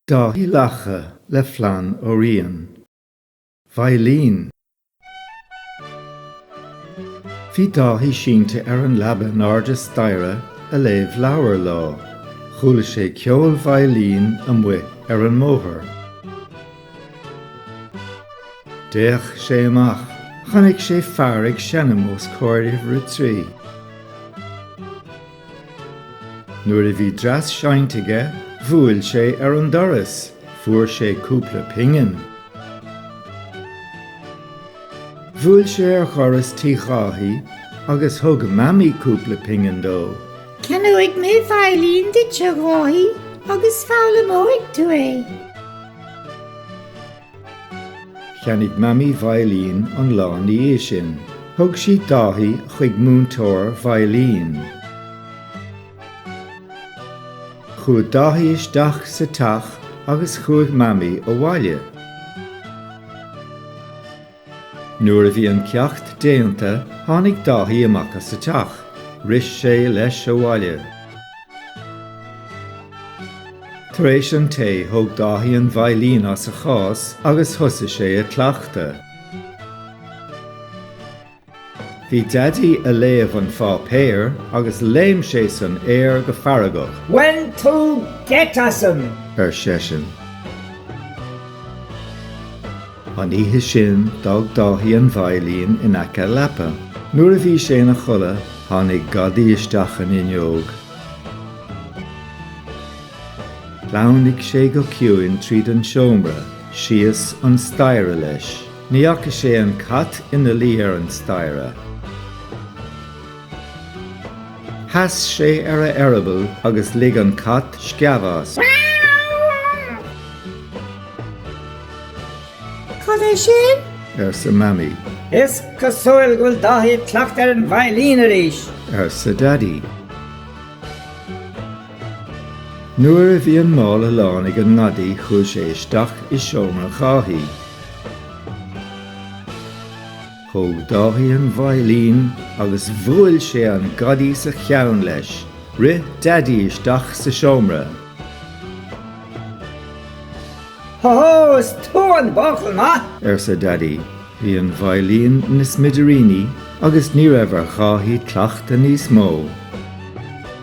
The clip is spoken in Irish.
Dáithí Lacha le Flann Ó Riain, veidhlín. Bhí Dáithí sínte ar an leaba in airde staighre ag léamh leabhair lá. Chuala sé ceol veidhlín amuigh ar an mbóthar. D'fhéach sé amach. Chonaic sé fear ag seinm os comhair uimhir a trí. Nuair a bhí dreas seinnte aige bhuail sé ar an doras, fuair sé cúpla pingin. Bhuail sé ar dhoras Tí Dháithí agus thug Mamaí cúpla pingin dó. Ceannóidh mé veidhlín duit, a Dháithí, agus foghlaimeoidh tú é. Cheannaigh Mamaí veidhlín an lá ina dhiaidh sin. Thug sí Dáithí chuig múinteoir veidhlín. Chuaigh Dáithí isteach sa teach agus chuaigh Mamaí abhaile. Nuair a bhí an ceacht déanta, tháinig Dáithí amach as an teach, rith sé leis abhaile. Tar éis an tae, thóg Dáithí an veidhlín as an gcás agus thosaigh sé ag cleachtadh. Bhí Daidí ag léamh an pháipéir agus léim sé san aer go feargach. Bhain tú geit asam! ar seisean. An oíche sin, d'fhág Dáithí an veidhlín in aice a leapa. Nuair a bhí sé ina chodladh, tháinig gadaí isteach an fhuinneog. Shleamhnaigh sé go ciúin tríd an seomra, síos an staighre leis. Ní fhaca sé an cat ina luí ar an staighre. Sheas sé ar a eireaball agus lig an cat sceamh as. Cad é sin? arsa Mamaí. Is cosúil go bhfuil Dáithí ag cleachtadh ar an veidhlín arís! arsa Daidí. Nuair a bhí an mála lán ag an ngadaí chuaigh sé isteach i seomra Dháithí. Thóg Dáithí an veidhlín agus bhuail sé an gadaí sa cheann leis. Rith Daidí isteach sa seomra. Ho hó, is tú an buachaill maith! arsa Daidí. Bhí an veidhlín ina smidiríní agus ní raibh ar Dháithí cleachtadh níos mó.